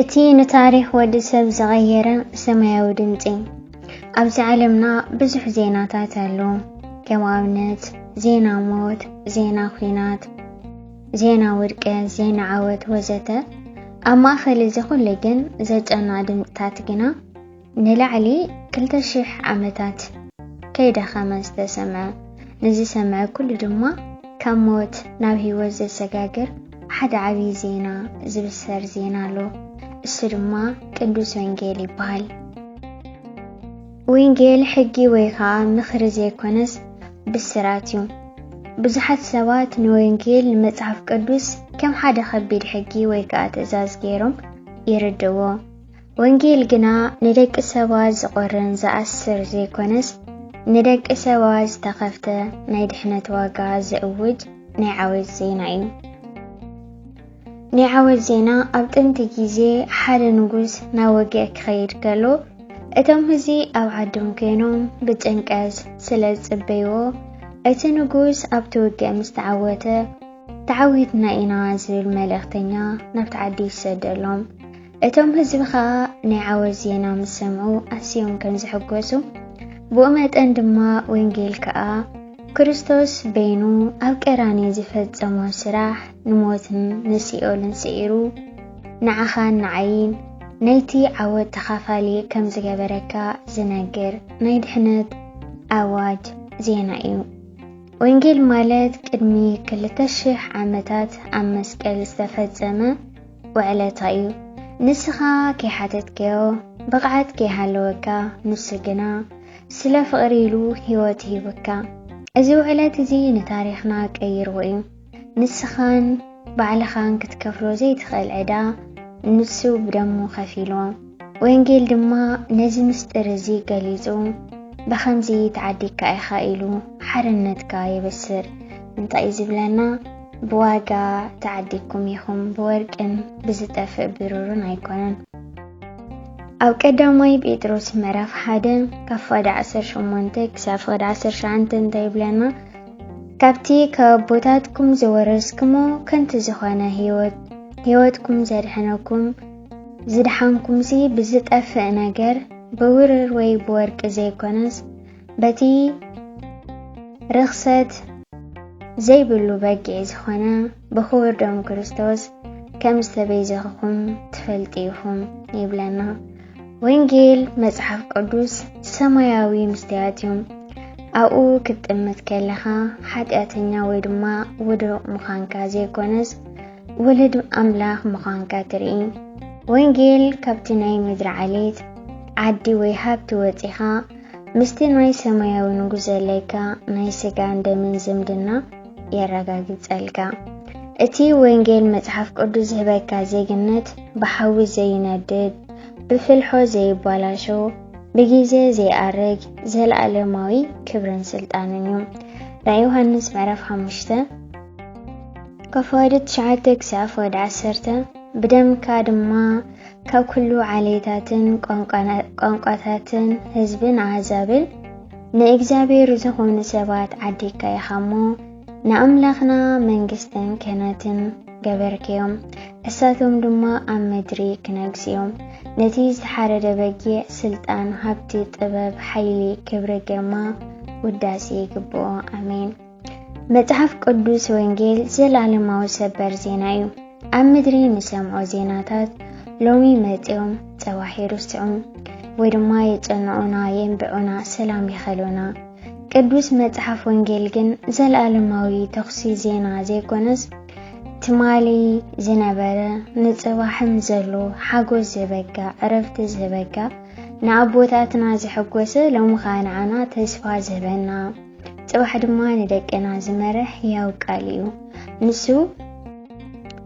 እቲ ንታሪኽ ወዲ ሰብ ዝቐየረ ሰማያዊ ድምፂ ኣብዚ ዓለምና ብዙሕ ዜናታት ኣሎ። ከም ኣብነት ዜና ሞት፣ ዜና ኲናት፣ ዜና ውድቀት፣ ዜና ዓወት ወዘተ። ኣብ ማእኸል እዚ ኩሉ ግን ዘጨንቕ ድምፅታት ግና ንላዕሊ ክልተ ሽሕ ዓመታት ከይደኸመ ዝተሰምዐ ንዝሰምዐ ኩሉ ድማ ካብ ሞት ናብ ህይወት ዘሰጋግር ሓደ ዓብዪ ዜና ዝብሰር ዜና ኣሎ። እሱ ድማ ቅዱስ ወንጌል ይበሃል። ወንጌል ሕጊ ወይ ከዓ ምኽሪ ዘይኮነስ ብስራት እዩ። ብዙሓት ሰባት ንወንጌል ንመጽሓፍ ቅዱስ ከም ሓደ ከቢድ ሕጊ ወይ ከዓ ትእዛዝ ገይሮም ይርድእዎ። ወንጌል ግና ንደቂ ሰባት ዝቖርን ዝኣስር ዘይኮነስ ንደቂ ሰባት ዝተኸፍተ ናይ ድሕነት ዋጋ ዘእውጅ ናይ ዓወት ዜና እዩ። ናይ ዓወት ዜና ኣብ ጥንቲ ግዜ ሓደ ንጉስ ናብ ወግእ ክኸይድ ከሎ እቶም ህዝቢ ኣብ ዓዶም ኮይኖም ብጭንቀት ስለ ዝጽበይዎ እቲ ንጉስ ኣብቲ ውግእ ምስ ተዓወተ ተዓዊትና ኢና ዝብል መልእኽተኛ ናብቲ ዓዲ ይሰደሎም። እቶም ህዝቢ ከኣ ናይ ዓወት ዜና ምስ ሰምዑ ኣስዮም ከም ዝሕጎሱ ብኡ መጠን ድማ ወንጌል ከኣ ክርስቶስ በይኑ ኣብ ቀራንዮ ዝፈጸሞ ስራሕ ንሞትን ንሲኦልን ስዒሩ ንዓኻን ንዓይን ናይቲ ዓወት ተኻፋሊ ከም ዝገበረካ ዝነግር ናይ ድሕነት ኣዋጅ ዜና እዩ። ወንጌል ማለት ቅድሚ ክልተ ሽሕ ዓመታት ኣብ መስቀል ዝተፈጸመ ውዕለታ እዩ ንስኻ ከይሓተትከዮ ብቕዓት ከይሃለወካ ንሱ ግና ስለ ፍቕሪ ኢሉ ህይወት ሂቡካ እዚ ውዕለት እዚ ንታሪኽና ቀይርዎ እዩ ንስኻን ባዕልኻን ክትከፍሎ ዘይትኽእል ዕዳ ንሱ ብደሙ ከፊልዎ ወንጌል ድማ ነዚ ምስጢር እዚ ገሊጹ ብኸምዚ ተዓዲግካ ኢኻ ኢሉ ሓርነትካ የበስር እንታይ እዩ ዝብለና ብዋጋ ተዓዲግኩም ኢኹም፣ ብወርቅን ብዝጠፍእ ብሩርን ኣይኮነን። ኣብ ቀዳማይ ጴጥሮስ ምዕራፍ ሓደ ካብ ፍቕዲ ዓሰርተ ሸሞንተ ክሳብ ፍቕዲ ዓሰርተ ሸዓንተ እንታይ ይብለና? ካብቲ ካብ ኣቦታትኩም ዝወረስክሞ ከንቲ ዝኾነ ህይወት ህይወትኩም ዘድሕነኩም ዝድሓንኩምሲ ብዝጠፍእ ነገር ብውርር ወይ ብወርቂ ዘይኮነስ በቲ ርኽሰት ዘይብሉ በጊዕ ዝኾነ ብኽቡር ደም ክርስቶስ ከም ዝተቤዘኽኹም ትፈልጡ ኢኹም ይብለና። ወንጌል መጽሓፍ ቅዱስ ሰማያዊ ምስትያት እዩ። ኣብኡ ክትጥምት ከለኻ ሓጢኣተኛ ወይ ድማ ውዱቕ ምዃንካ ዘይኮነስ ውልድ ኣምላኽ ምዃንካ ትርኢ። ወንጌል ካብቲ ናይ ምድሪ ዓሌት ዓዲ ወይ ሃብቲ ወፂኻ ምስቲ ናይ ሰማያዊ ንጉስ ዘለካ ናይ ስጋን ደምን ዝምድና የረጋግጸልካ። እቲ ወንጌል መጽሓፍ ቅዱስ ዝህበካ ዜግነት ብሓዊ ዘይነድድ፣ ብፍልሖ ዘይባላሾ፣ ብጊዜ ዘይኣርግ ዘለኣለማዊ ክብርን ስልጣንን እዩ። ራእይ ዮሃንስ ምዕራፍ ሓሙሽተ ከፋወዲ ትሽዓተ ክሳብ ፈወዲ ዓሰርተ ብደምካ ድማ ካብ ኩሉ ዓሌታትን ቋንቋታትን ህዝብን ኣህዛብን ንእግዚኣብሔር ዝኾኑ ሰባት ዓዲግካ ኢኻ እሞ ንኣምላኽና መንግስትን ክህነትን ገበርክዮም እሳቶም ድማ ኣብ ምድሪ ክነግስ እዮም ነቲ ዝተሓረደ በጊዕ ስልጣን ሃብቲ ጥበብ ሓይሊ ክብሪ ግርማ ውዳሴ ይግብኦ ኣሜን መጽሓፍ ቅዱስ ወንጌል ዘላለማዊ ሰበር ዜና እዩ። ኣብ ምድሪ ንሰምዖ ዜናታት ሎሚ መጺኦም ጸባሕ ይርስዑ ወይ ድማ የጸንዑና፣ የንብዑና፣ ሰላም ይኸሉና። ቅዱስ መጽሓፍ ወንጌል ግን ዘላለማዊ ተኹሲ ዜና ዘይኮነስ ትማሊ ዝነበረ ንጽባሕም ዘሎ ሓጎስ ዝበጋ ዕረፍቲ ዝበጋ ንኣቦታትና ዝሐጎሰ ሎሚ ከዓ ንዓና ተስፋ ዝህበና ጽባሕ ድማ ንደቅና ዝመርሕ ሕያው ቃል እዩ። ንሱ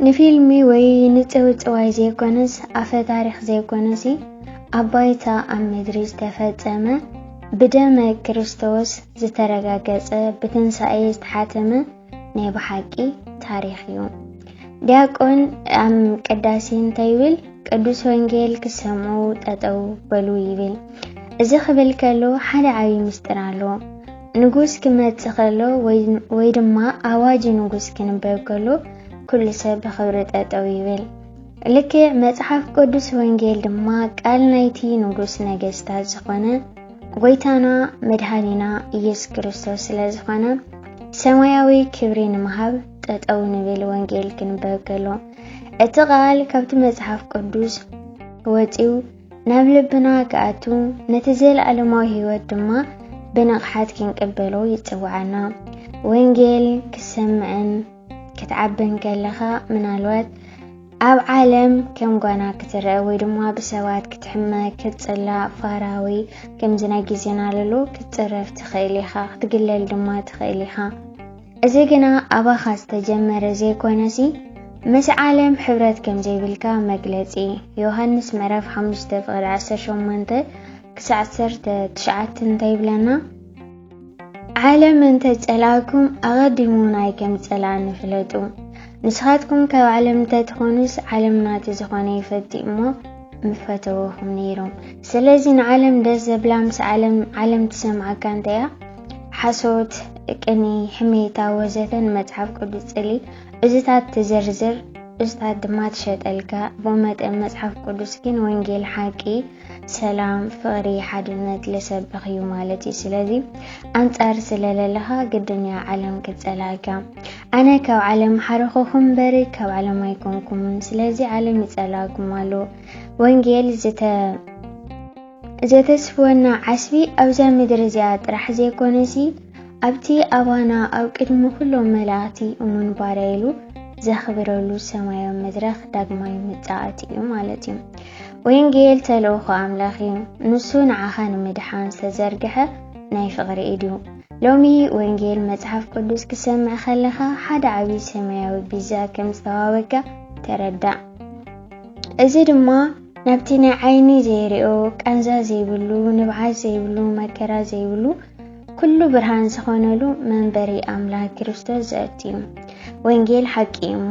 ንፊልሚ ወይ ንጽውጽዋይ ዘይኮነስ ኣፈ ታሪኽ ዘይኮነሲ ኣብ ባይታ ኣብ ምድሪ ዝተፈጸመ ብደመ ክርስቶስ ዝተረጋገጸ ብትንሳኤ ዝተሓተመ ናይ ብሓቂ ታሪኽ እዩ። ዲያቆን ኣብ ቅዳሴ እንታይ ይብል? ቅዱስ ወንጌል ክሰምዑ ጠጠው በሉ ይብል። እዚ ክብል ከሎ ሓደ ዓብዪ ምስጢር ኣሎ። ንጉስ ክመጽእ ከሎ ወይ ድማ ኣዋጅ ንጉስ ክንበብ ከሎ ኩሉ ሰብ ብኽብሪ ጠጠው ይብል። ልክዕ መጽሓፍ ቅዱስ ወንጌል ድማ ቃል ናይቲ ንጉስ ነገስታት ዝኾነ ጎይታና መድሃኒና ኢየሱስ ክርስቶስ ስለ ዝኾነ ሰማያዊ ክብሪ ንምሃብ ጠጠው ንብል ወንጌል ክንበብ ከሎ እቲ ቃል ካብቲ መጽሓፍ ቅዱስ ወፂኡ ናብ ልብና ክኣቱ ነቲ ዘለኣለማዊ ህይወት ድማ ብንቕሓት ክንቅበሎ ይጽውዓና። ወንጌል ክሰምዕን ክትዓቢ እንከለኻ ምናልባት ኣብ ዓለም ከም ጓና ክትረአ ወይ ድማ ብሰባት ክትሕመ ክትጽላእ ፋራዊ ከምዚ ናይ ግዜና ለሎ ክትጽረፍ ትኽእል ኢኻ ክትግለል ድማ ትኽእል ኢኻ እዚ ግና ኣባኻ ዝተጀመረ ዘይኮነሲ ምስ ዓለም ሕብረት ከም ዘይብልካ መግለጺ ዮሃንስ ምዕራፍ 5 ፍቕሪ 18 ክሳዕ 19 እንታይ ይብለና ዓለም እንተ ጸላእኩም ኣቐዲሙ ናይ ከም ጸላእኒ ፍለጡ። ንስኻትኩም ካብ ዓለም እንተ ትኾኑስ ዓለም ናቲ ዝኾነ ይፈቲ እሞ ምፈተወኹም ነይሩ። ስለዚ ንዓለም ደስ ዘብላ ምስ ዓለም ዓለም ትሰምዓካ እንተያ ሓሶት፣ ቅኒ፣ ሕሜታ ወዘተ ንመጽሓፍ ቅዱስ ጽሊ እዝታት ትዝርዝር እዝታት ድማ ትሸጠልካ። ብኡ መጠን መጽሓፍ ቅዱስ ግን ወንጌል ሓቂ ሰላም ፍቅሪ ሓድነት ለሰብኽ እዩ ማለት እዩ ስለዚ ኣንጻር ስለለለኻ ግድን እያ ዓለም ክትጸላእካ ኣነ ካብ ዓለም ሓረኸኹም በሪ ካብ ዓለም ኣይኮንኩምን ስለዚ ዓለም ይጸላእኩም ኣሎ ወንጌል ዝተ ዘተስፍወና ዓስቢ ኣብዛ ምድሪ እዚኣ ጥራሕ ዘይኮነሲ ኣብቲ ኣባና ኣብ ቅድሚ ኩሎም መላእቲ እሙን ባርያ ኢሉ ዘኽብረሉ ሰማያዊ መድረኽ ዳግማይ ምጻእት እዩ ማለት እዩ ወንጌል ተልእኾ ኣምላኽ እዩ። ንሱ ንዓኻ ንምድሓን ዝተዘርግሐ ናይ ፍቕሪ ኢድ እዩ። ሎሚ ወንጌል መጽሓፍ ቅዱስ ክሰምዕ ከለኻ ሓደ ዓብዪ ሰማያዊ ቢዛ ከም ዝተዋበካ ተረዳእ። እዚ ድማ ናብቲ ናይ ዓይኒ ዘይርኦ ቃንዛ ዘይብሉ ንብዓት ዘይብሉ መከራ ዘይብሉ ኩሉ ብርሃን ዝኾነሉ መንበሪ ኣምላኽ ክርስቶስ ዘእቲ እዩ። ወንጌል ሓቂ እዩ እሞ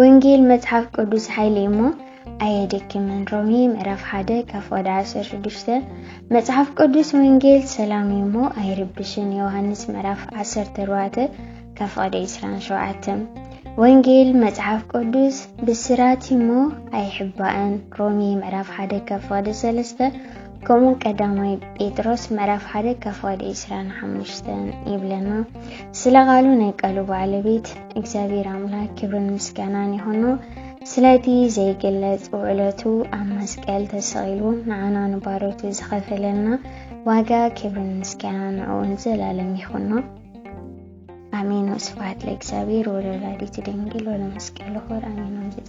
ወንጌል መጽሓፍ ቅዱስ ሓይሊ እዩ እሞ ኣየደክምን። ሮሜ ምዕራፍ ሓደ ካብ ወደ ዓሰርተ ሽዱሽተ መጽሓፍ ቅዱስ ወንጌል ሰላም እዩ እሞ ኣይርብሽን። ዮሃንስ ምዕራፍ ዓሰርተ ኣርባዕተ ካብ ወደ ዕስራን ሸውዓተን ወንጌል መጽሓፍ ቅዱስ ብስራት እሞ ኣይሕባእን ሮሜ ምዕራፍ ሓደ ካብ ፍቕዲ ሰለስተ ከምኡ ቀዳማይ ጴጥሮስ ምዕራፍ ሓደ ካብ ፍቕዲ ዕስራን ሓሙሽተን ይብለና ስለ ቃሉ ናይ ቃሉ ባዕለቤት እግዚኣብሔር ኣምላክ ክብርን ምስጋናን ይኹኑ ስለቲ ዘይግለጽ ውዕለቱ ኣብ መስቀል ተሰቒሉ ንዓና ንባሮቱ ዝኸፈለልና ዋጋ ክብርን ምስጋና ንዕኡን ዘላለም ይኹኖ ኣሜን ወስብሐት ለእግዚኣብሔር ወለወላዲቱ ድንግል ወለመስቀሉ ክቡር ኣሜን ወንጌል